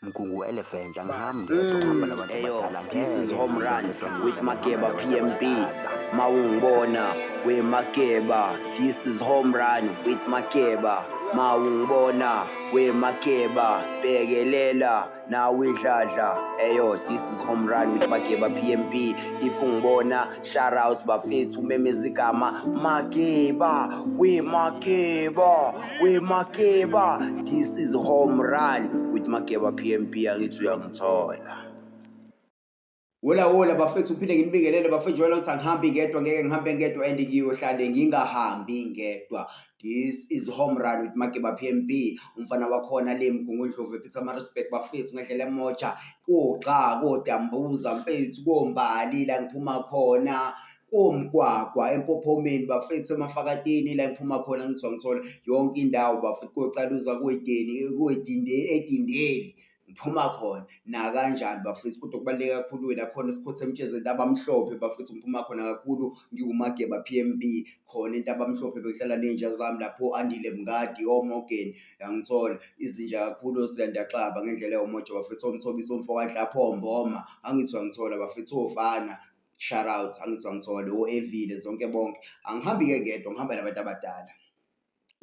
Mgungu elephant angiham ngedwa uhamba nabantu Eyo, abadala this is ngeke home run ngedwa with ngidlala Makeba nabantu PMB. abadala. Mawungibona we Makeba, this is home run with Makeba. Mawungibona we Makeba, bekelela nawe idladla. Eyo, this is home run with Makeba PMB. If ungibona Shoutouts bafethu umemeza igama Makeba we Makeba we Makeba this is home run with Makeba PMP angithi uyangithola Wola wola bafethu uphinde nginibingelele bafethu jwayela ukuthi angihambi ngedwa ngeke ngihambe ngedwa and ngiyohlale ngingahambi ngedwa This is home run with Mageba PMB. Umfana wakhona le Mgungundlovu ephitha ama-respect bafethu ngedlela emoja. Kugxa kodambuza mfethu kombali la ngiphuma khona komgwagwa empophomeni bafethu emafakatini la ngiphuma khona ngizwa ngithola yonke indawo bafethu kocaluza kwedeni kwedinde edindeli ngiphuma khona nakanjani bafethu kodwa okubaluleke kakhulu wena khona sikhothe emtshezeni intabamhlophe bafethu ngiphuma khona kakhulu ngiwumageba p m b khona intabamhlophe bekuhlala ney'nja zami lapho andile mngadi omorgan yangithola izinja kakhulu osiyandaxaba ngendlela ewumoja bafethu omthobisa omfokanhlapho mboma angithi wangithola bafethu ofana shout out angithi wangithola o-evile zonke bonke angihambi-ke ngedwa ngihamba nabantu abadala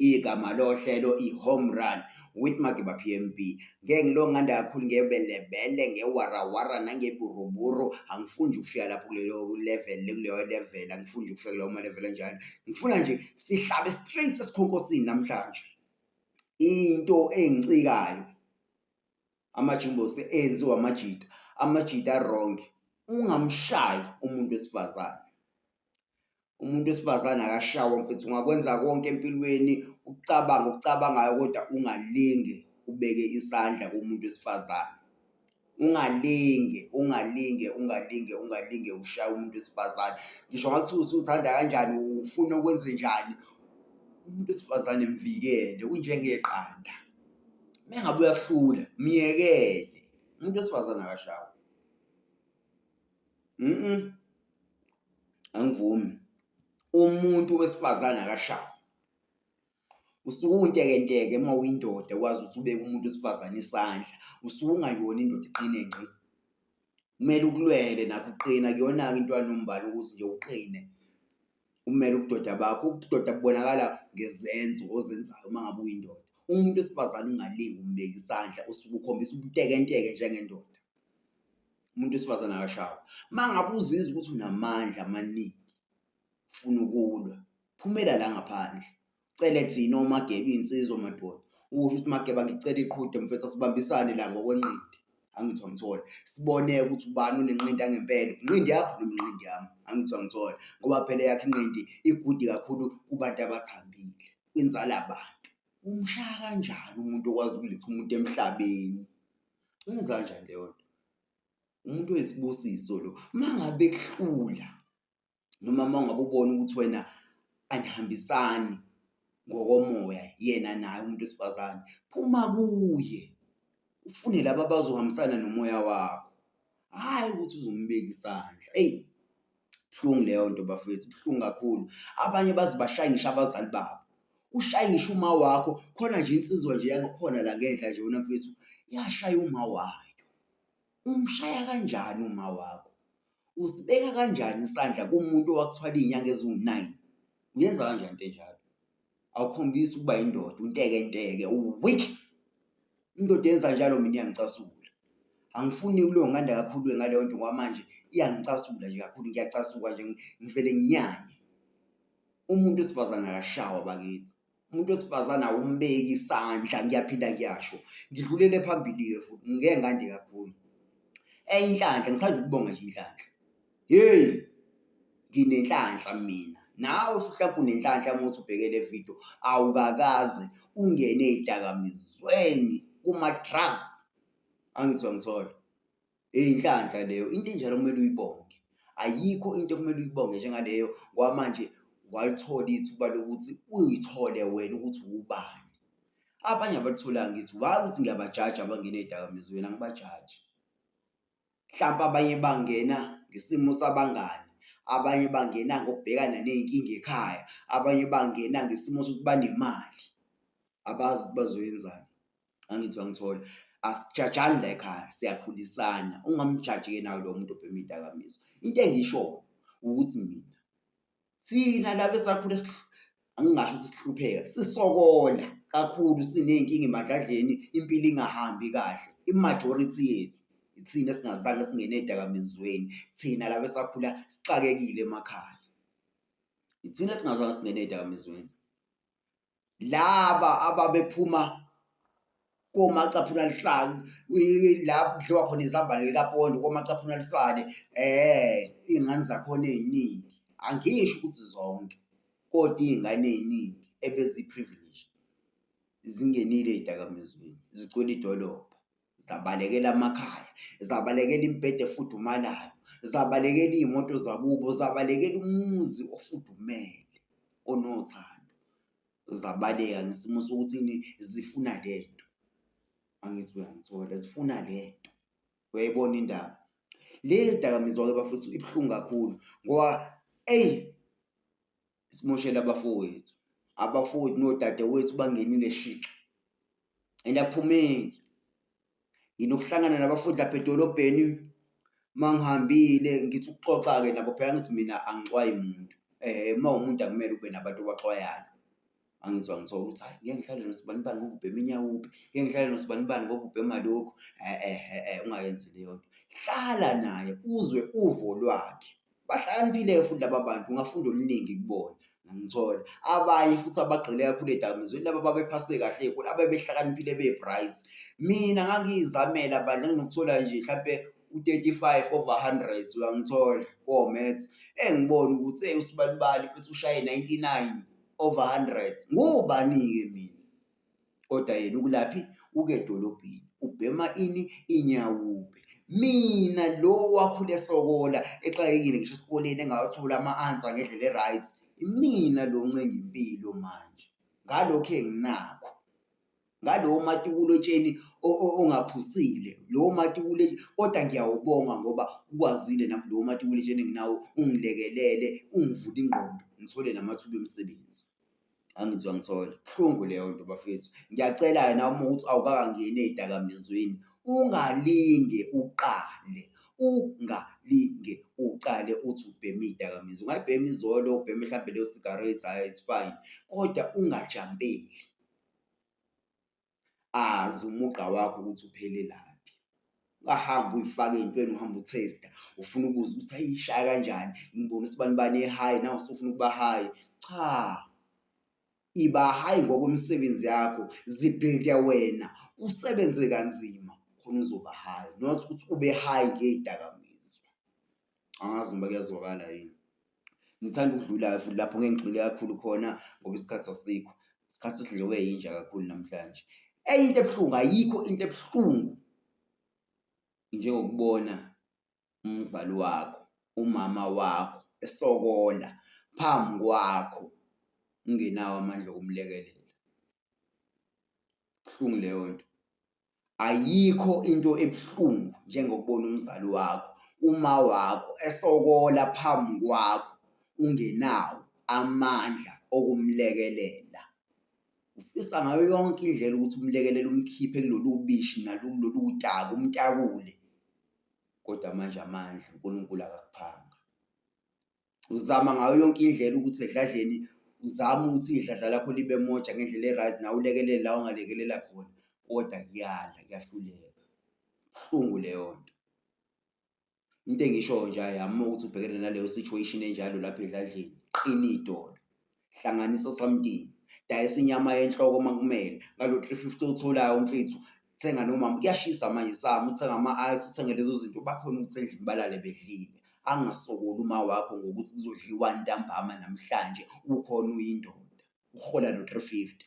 igama lohlelo i-home run with magiba pmb ngeke ngilonganda kakhulu ngebelebele ngewarawara nangeburuburu angifuni nje ukufika lapho kulelo level kuleyo level angifuni nje ukufika kuleyo malevel enjalo ngifuna nje sihlabe straight esikhonkosini namhlanje into engicikayo amajimbosi enziwa amajita amajita wrong ungamshayi umuntu wesifazane umuntu wesifazane akashawa mfethu ungakwenza konke empilweni ukucabanga okucabangayo kodwa ungalingi ubeke isandla kumuntu wesifazane ungalinge ungalinge ungalinge ungalinge ushaya umuntu wesifazane ngisho ngathi usuthanda kanjani ufuna ukwenze njani umuntu wesifazane mvikele unjengeqanda mengabe uyakuhlula myekele umuntu wesifazane akashawa mm angivumi umuntu wesifazane akashayi usuke untekenteke uma uyindoda wazi ukuthi ubeke umuntu wesifazane isandla usuke ungayona indoda iqine ngqi kumele ukulwele nakho uqina kuyona-ke into yanombani ukuthi nje uqine umele ubudoda bakho ubudoda bubonakala ngezenzo ozenzayo uma ngabe uyindoda umuntu wesifazane ungalingi umbeka isandla usuke ukhombisa ubutekenteke njengendoda umuntu wesifazane akashawa uma ngabe uzizwa ukuthi unamandla amaningi funa ukulwa phumela la ngaphandle cele thina omagebe iy'nsizwa omadoda usho ukuthi mageba ngicela iqhude mfethu asibambisane la ngokwenqindi angithi wangithola sibone ukuthi ubani onenqindi angempela inqindi yakho noma inqindi yami angithi wangithola ngoba phela yakhe inqindi igudi kakhulu kubantu abathambile kwinzala abantu umshaya kanjani umuntu okwazi ukuletha umuntu emhlabeni Wenza kanjani leyo nto? Umuntu oyisibusiso lo. Uma ngabe kuhlula noma uma ngabe ubona ukuthi wena anihambisani ngokomoya yena naye umuntu wesifazane, phuma kuye. Ufune laba abazohambisana nomoya wakho. Hhayi ukuthi uzombeka isandla. Eyi, Buhlungu leyo nto bafethu, buhlungu kakhulu. Abanye baze bashaye ngisho abazali babo. Ushaye ngisho uma wakho, khona nje insizwa nje yangakhona la ngenhla nje wena mfethu, yashaya uma wayo. Umshaya kanjani uma wakho? Usibeka kanjani isandla kumuntu owakuthwala iy'nyanga eziwu-nine? Uyenza kanjani into enjalo? awukhombisi ukuba yindoda unteke nteke uweak indoda yenza njalo mina iyangicasula angifuni kuleyo nganda kakhulu ngaleyo nto ngoba manje iyangicasula nje kakhulu ngiyacasuka nje ngivele nginyanye umuntu wesifazane akashawa bakithi umuntu wesifazane awumbeki isandla ngiyaphinda ngiyasho ngidlulele phambili-ke futhi ngeke ngande kakhulu enye inhlanhla ngithanda ukubonga nje inhlanhla Hey! Nginenhlanhla mina. Nawe mhlawumbe unenhlanhla uma uthi ubheke le video, awukakaze ungene ey'dakamizweni kuma-drugs. Angizwa ngithola. Inhlanhla leyo, into enjalo kumele uyibonge. Ayikho into okumele uyibonge njengaleyo ngoba manje walithola ithuba lokuthi uyithole wena ukuthi wubani. Abanye abalitholanga ithuba, hhayi ukuthi ngiyabajaja abangene ey'dakamizweni, angibajaji. mhlawumpe abanye bangena ngesimo sabangani abanye bangena ngokubhekana ney'nkinga ekhaya abanye bangena ngesimo sokuthi banemali abazi ukuthi bazoyenzani angithi wangithola asijajani la ekhaya siyakhulisana ungamjaji-ke nawe lo muntu obhema iy'dakamizwa into engishoyo ukuthi mina thina laba esakhule angingasho ukuthi sihlupheka sisokola kakhulu siney'nkinga emadladleni impilo ingahambi kahle imajority yethu ithina esingazange singene edakamizweni thina laba esakhula sixakekile emakhaya ithina esingazange singene edakamizweni laba ababephuma komacaphuna lisale la kudliwa khona izambane likapondo komacaphuna lisale eh iy'ngane zakhona ey'ningi angisho ukuthi zonke kodwa iy'ngane ey'ningi ebeziyi-privilege zingenile ey'dakamizweni zigcwele idolobha. zabalekela amakhaya zabalekela imibhede efudumalayo zabalekela iy'moto zakubo zabalekela umuzi ofudumele onothando zabaleka ngesimo sokuthi zifuna le nto angithi uyangithola zifuna le nto uyayibona indaba le dakamizwa-ke bafethu ibuhlungu kakhulu ngoba eyi simoshele abafowethu abafowethu nodadewethu bangenile shixa and aphumeki nginokuhlangana nabafundi lapha edolobheni uma ngihambile ngithi ukuxoxa-ke nabo phela ngithi mina angixwayi muntu um uma umuntu akumele ube nabantu obaxwayayo angizwa ngithola ukuthi hayi ngeke ngihlale nosibanibani ngoba ubhema inyawupi ngeke ngihlale nosibanibani ngoba ubhema lokhu e-e-e ungayenzi leyo nto hlala naye uzwe uvo lwakhe bahlakaniphile-ke futhi laba bantu ungafunda oluningi kubona ngithola abanye futhi abagxile kakhulu edakamizweni laba babephase kahle ekhulu abebehlakaniphile be-bright mina ngangiyizamela bandla nginokuthola nje mhlampe u-35 over 100 uyangithola ko-maths engibona ukuthi eyi usibanibani futhi ushaye 99 over hundreds ngubani-ke mina kodwa yena ukulaphi uke edolobheni ubhema ini inyawube mina lo wakhule sokola exakekile ngisho esikoleni engawathola ama-ansa ngendlela e-right imina lo ncenga impilo manje ngalokhu enginakho ngalowo matibulo etsheni ongaphusile lowo matibulo kodwa ngiyawubonga ngoba ukwazile nami lowo matibulo etsheni enginawo ungilekelele ungivule ingqondo ngithole namathuba emisebenzi angizwa ngithole buhlungu leyo nto bafethu ngiyacela-ke nawe uma ukuthi awukakangeni ey'dakamizweni ungalinge uqale ungalinge uqale uthi ubheme iy'dakamizwa ungayibhema izolo ubheme mhlawumbe leyo sigarethi hhayi it's fine kodwa ungajambeli azi umugqa wakho ukuthi uphelelaphi ungahamba uyifake ey'ntweni uhamba uthesta ufuna ukuze ukuthi ayishaya kanjani ngibona ukuthi bani bani e-high nawe usufuna ukuba high cha iba high ngokwemisebenzi yakho zibhilde wena usebenze kanzima khona uzoba high not ukuthi ube high ngey'dakamizwa. angazi noma kuyazwakala yini ngithanda ukudlulayo futhi lapho ngeke ngigxile kakhulu khona ngoba isikhathi asikho isikhathi sidliwe yinja kakhulu namhlanje enye into ebuhlungu ayikho into ebuhlungu njengokubona umzali wakho umama wakho esokola phambi kwakho ungenawo amandla okumlekelela Buhlungu leyo nto. Ayikho into ebuhlungu njengokubona umzali wakho, uma wakho esokola phambi kwakho ungenawo amandla okumlekelela. Ufisa ngayo yonke indlela ukuthi umlekelele umkhiphe kulolu bishi nakulolu daka umtakule, kodwa manje amandla uNkulunkulu akakuphanga. uzama ngayo yonke indlela ukuthi edladleni uzama ukuthi idladla lakho libe moja ngendlela e-right nawe ulekelele la ongalekelela khona kodwa kuyala kuyahluleka buhlungu leyo nto into engishoyo nje ayami ukuthi ubhekene naleyo situation enjalo lapha edladleni qina idolo hlanganisa osamtini dayisa inyama yenhloko uma kumele ngalo 350 otholayo umfethu thenga nomama kuyashisa manje sami uthenga ama-ice uthenge lezo zinto bakhona ukuthi endlini balale bedlile angasokoli uma wakho ngokuthi kuzodliwa ntambama namhlanje ukhona uyindoda uhola no 350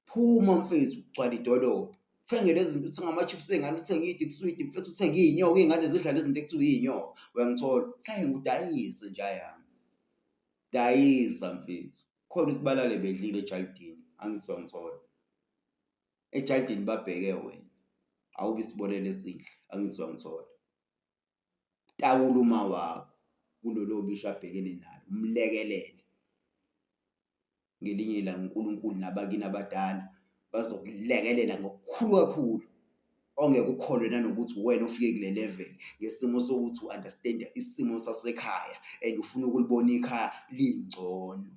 phuma mfethu ugcwala idolobha uthenge lezi zinto uthenge ama-chips ey'ngane uthenge idikiswidi mfethu uthenge iy'nyoka iy'ngane zidlala izinto ekuthiwa iy'nyoka uyangithola uthenge udayise njayami dayisa mfethu khona ukuthi balale bedlile ejaldini angizwa ngithola ejaldini babheke wena awube isibonelo esihle angizwa ngithola takula uma wakho kulolo bisho abhekene nalo umlekelele ngelinye ilanga uNkulunkulu nabakini abadala bazokulekelela ngokukhulu kakhulu ongeke ukholwe nanokuthi wena ufike kule level ngesimo sokuthi u-understand isimo sasekhaya and ufuna ukulibona ikhaya lingcono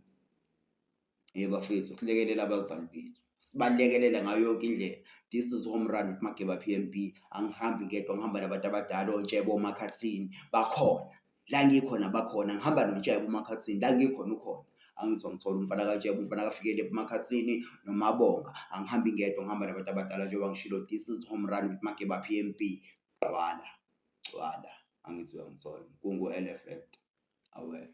yebo bafethu silekelela abazali bethu sibalekelela ngayo yonke indlela this is home run with mageba PMB angihambi ngedwa ngihamba nabantu abadala ontshebo omakhathini bakhona la ngikhona bakhona ngihamba nontshebe umakhathini la ngikhona ukhona angithi wamthola umfana kantshebe umfana kafikele emakhathini nomabonga angihambi ngedwa ngihamba nabantu abadala njengoba ngishilo this is home run with mageba p m b gcwala gcwala angithi uyangithola kungu-l effect awena